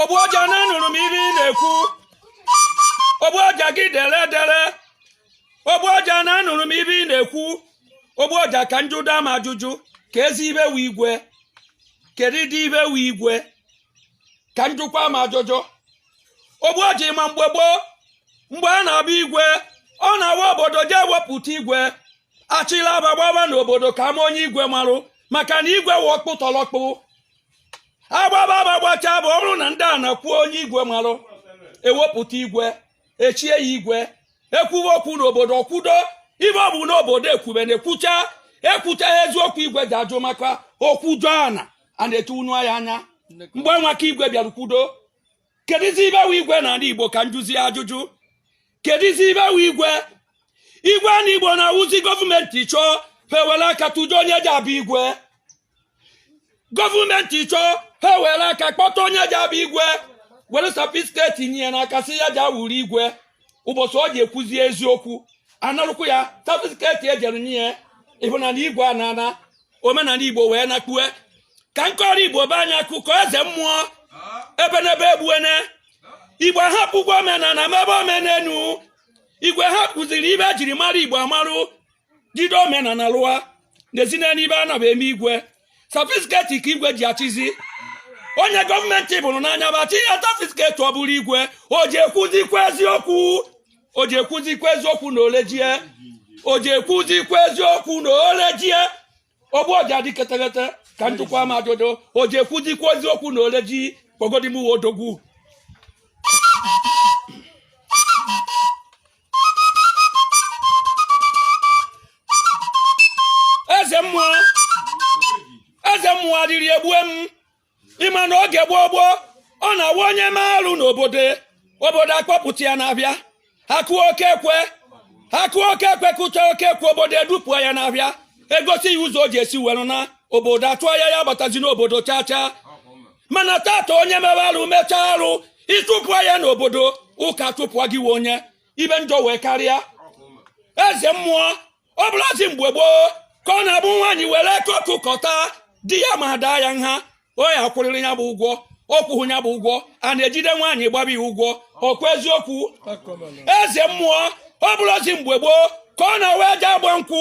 ogbu ọja na anụrụ m ihe ị na-ekwu ogbu ọja gị dere dere ogbu ọja na anụrụ m ihe ị na-ekwu ogbu ọja ka njụ daa m ajụjụ ka ezi ibe wee igwe kedu ịdị ibe wee igwe ka njụkwa m ajụjụ ogbu ọja ịma mgbe gboo mgbe a na-abụ igwe ọ na-awụ obodo je ewepụta igwe achịla aba gbaba n'obodo ka ama onye igwe marụ maka na igwe wụ ọkpụtọlọkpụ agbaba aba gbacha bụrụ na ndị ana kwuo onye igwe marụ ewepụta igwe echie ya igwe ekwuwe okwu n'obodo o kwudo ibe ọbụna obodo ekwube na-ekwucha ekwucha ya eziokwu igwe ji ajụ maka okwudo ana a na-etu unu ya anya mgbe nwaka igwe bịara kwudo kedizi ibe wụ igwe n'ana igbo ka njụzia ajụjụ kedizi ibe wụ igwe igwe na igbo na-awụzi gọọmenti chọọ ha were aka tụjụ onye ji abụ igwe gọọmenti chọọ ha were aka kpọta onye ji abụ igwe were safisketi nye ya n'aka sị ya ji awụrụ igwe ụbọchị ọ ji ekwuzi eziokwu anarụkwu ya safisketi ejere nye ya ị hụna na igwe anaana omenana igbo wee nakpue ka nkọrọ igbo be anyị akụkọ eze mmụọ ebenebe egbuene igwe ahapụgwo omenana mebe omenenu igwe hapụziri ibe ejiri mara igbo amarụ jide omenana lụa na-ezina n'ibe a naba eme igwe safisketi ka igwe ji achịzi onye gọọmenti bụrụ n'anya ba chi ya safisketi ọ bụrụ igwe o ji ekwuzikwa eziokwu o ji ekwuzikwa eziokwu na ole ji ya o ji ekwuzikwa eziokwu na ole ji ya ogbu ọja dị ketekete ka njụkwa m ajụjụ o ji ekwuzikwa eziokwu na ole ji kpọgodimuwe odogwu eze mmụọ eze mmụọ arịrị egbue m ịma na oge gboo gboo ọ na-awụ onye mee arụ n'obodo obodo akpọpụta ya n'afịa ha kụọ oke ekwe ha kụọ oke ekwe kụcha oke ekwe obodo edupụa ya n'afịa egosi ya ụzọ o ji esi were naa obodo atụa ya ya abatazina obodo chaa chaa mana tata onye mebe arụ mechaa arụ ị tụpụa ya n'obodo ụka tụpụa gị wụ onye ibe njọ wee karịa eze mmụọ ọ bụlụzi mgbe gboo ka ọ na-abụ nwaanyị were koku kọta di ya ma daa ya nha ọ ya akwụrịrị ya bụ ụgwọ ọ kwụhụ ya bụ ụgwọ a na-ejide nwaanyị gbaba ya ụgwọ ọkwa eziokwu eze mmụọ ọ bụlụzi mgbe gboo ka ọ na-awụ eje agba nkwụ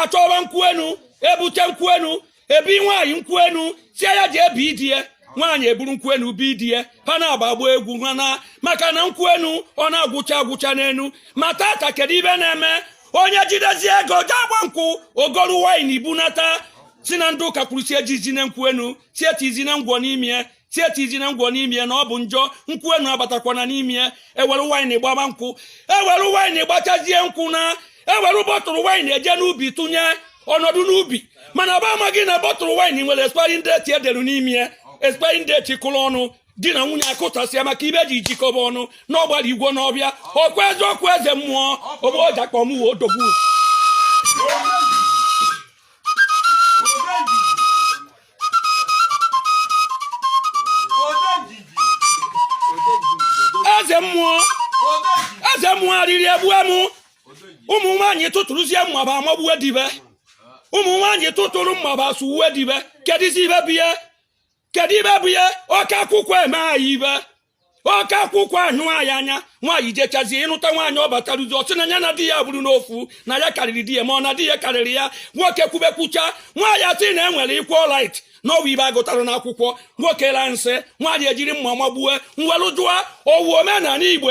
achọwa nkwụ enu ebute nkwụ enu ebi nwaanyị nkwụ enu sị ya jee bi di ya nwaanyị eburu nkwụ enu bi di ya ha na-agba agba egwu ha na maka na nkwụ enu ọ na-agwụcha agwụcha n'enu ma tata kedu ibe na-eme onye jidezie ego jee agba nkwụ ọ goru waịn ibunata sị na ndị ụka kwuru sị ejizine nkwụ enu sị etizine ngwọ n'ime sị etizine ngwọ n'ime na ọ bụ njọ nkwụ enu abatakwana n'ime ya ewere waịnị gbaba nkwụ ewere waịnị gbachazie nkwụ na ewere bọtụlụ waịnị eje n'ubi tụnye ọnọdụ n'ubi mana ọba amaghị na bọtụlụ waịnị nwere expiring date edere n'ime ya expiring date kụrụ ọnụ di na nwunye akụtasịa maka ibe ji jikọba ọnụ na ọgbara igwe n'ọbịa ọkwa eziokwu eze mmụọ ogbuọja kpọ mụwa odogwu eze mmụọ eze mmụọ arịrị egbue m ụmụ nwaanyị tụtụrụzie mma ba amagbuwe di be ụmụ nwaanyị tụtụrụ mma ba suwe di be kedụzi ibe bụ ihe kedu ibe bụ ihe oke akwụkwọ eme anyị ibe oke akwụkwọ ahụ anyị anya nwaanyị jechazie ị nụta nwaanyị ọ batara ụzọ ọ sị na ya na di ya bụrụ n'ofu na ya karịrị di ya ma ọ na di ya karịrị ya nwoke kwube kwucha nwaanyị asị na enwere equal right na ọ wụ ibe agụtara n'akwụkwọ nwoke la nsị nwaanyị ejiri mma magbue m welu jụọ ọ wụ omenala Igbo